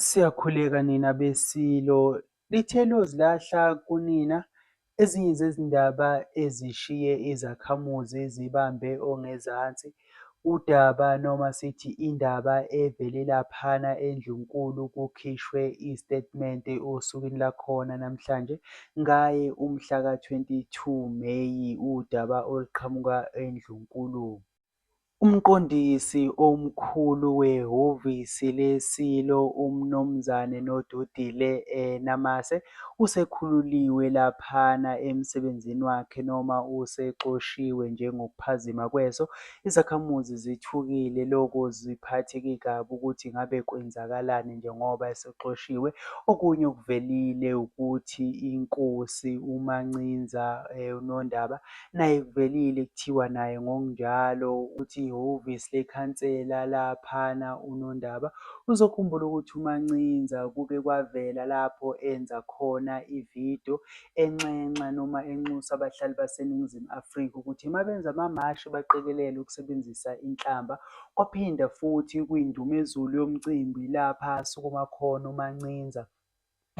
Siyakhuleka nina beSilo, lithe liyozilahla kunina, ezinye zezindaba ezishiye izakhamuzi zibambe ongezansi, udaba noma sithi indaba evele laphana eNdlunkulu kukhishwe isitatimende osukwini lakhona namhlanje ngaye umhla ka-22 Meyi udaba oluqhamuka eNdlunkulu. UMqondisi Omkhulu wehhovisi leSilo uMnumzane Nodudile Namase usekhululiwe laphana emsebenzini wakhe noma usexoshiwe njengokuphazima kweso, izakhamuzi zithukile loko ziphatheke kabi ukuthi ngabe kwenzakalani njengoba esexoshiwe, okunye okuvelile ukuthi iNkosi uMancinza uNondaba Naye kuvelile kuthiwa naye ngokunjalo uthi ihhovisi lekhansela laphana uNondaba uzokhumbula ukuthi uMancinza kuke kwavela lapho enza khona ividiyo enxenxa noma enxusa abahlali baseNingizimu Afrika ukuthi mabenza amamashi baqikelele ukusebenzisa inhlamba. Kwaphinda futhi kuyindumezulu yomcimbi lapha asukuma khona uMancinza.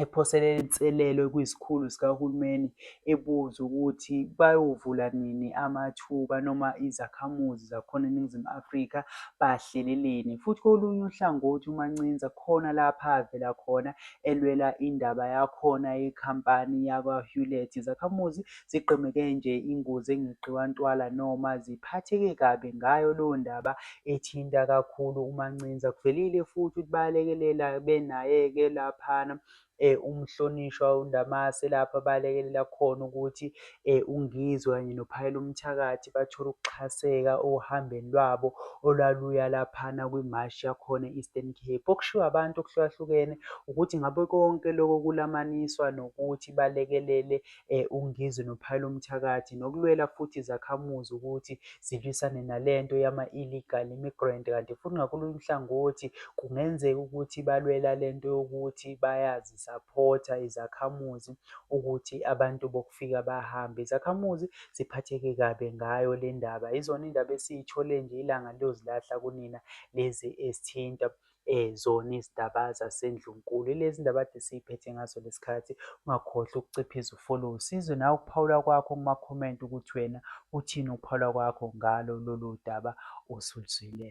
ephosele inselelo kwizikhulu zikahulumeni ebuza ukuthi bayovula nini amathuba noma izakhamuzi zakhona eNingizimu Afrika bahleleleni. Futhi kolunye uhlangothi uMancinza khona lapha avela khona elwela indaba yakhona yekhampani yakwa-Hewlett. Izakhamuzi zigqemeke nje ingozi engeqiwa ntwala noma ziphatheke kabi ngayo leyo ndaba ethinta kakhulu uMancinza. Kuvelile futhi ukuthi bayalekelela benaye-ke laphana eh umhlonishwa uNdamase lapha balekelela khona ukuthi eh uNgizwe kanye noPhayela umthakathi bathole ukuxhaseka ohambeni lwabo olwaluya laphana kwimashi yakhona e-Eastern Cape. Okushiwo abantu okuhlukahlukene ukuthi ngabe konke lokho kulamaniswa nokuthi balekelele uNgizwe noPhayelo Mthakathi nokulwela futhi izakhamuzi ukuthi zilwisane nalento yama-illegal immigrant kanti futhi ngakolunye uhlangothi kungenzeka ukuthi balwela lento yokuthi bayazi supporter izakhamuzi ukuthi abantu bokufika bahambe izakhamuzi ziphatheke kabe ngayo le ndaba izona indaba esiyithole nje ilanga liyozilahla kunina lezi esithinta zona izindaba zasendlunkulu. Ilezi ndaba kade siyiphethe ngaso lesikhathi. Ungakhohlwa ukuciphiza ufollow usizwe nawe ukuphawula kwakho kuma-comment ukuthi wena uthini ukuphawula kwakho ngalo lolu daba osuluzwile.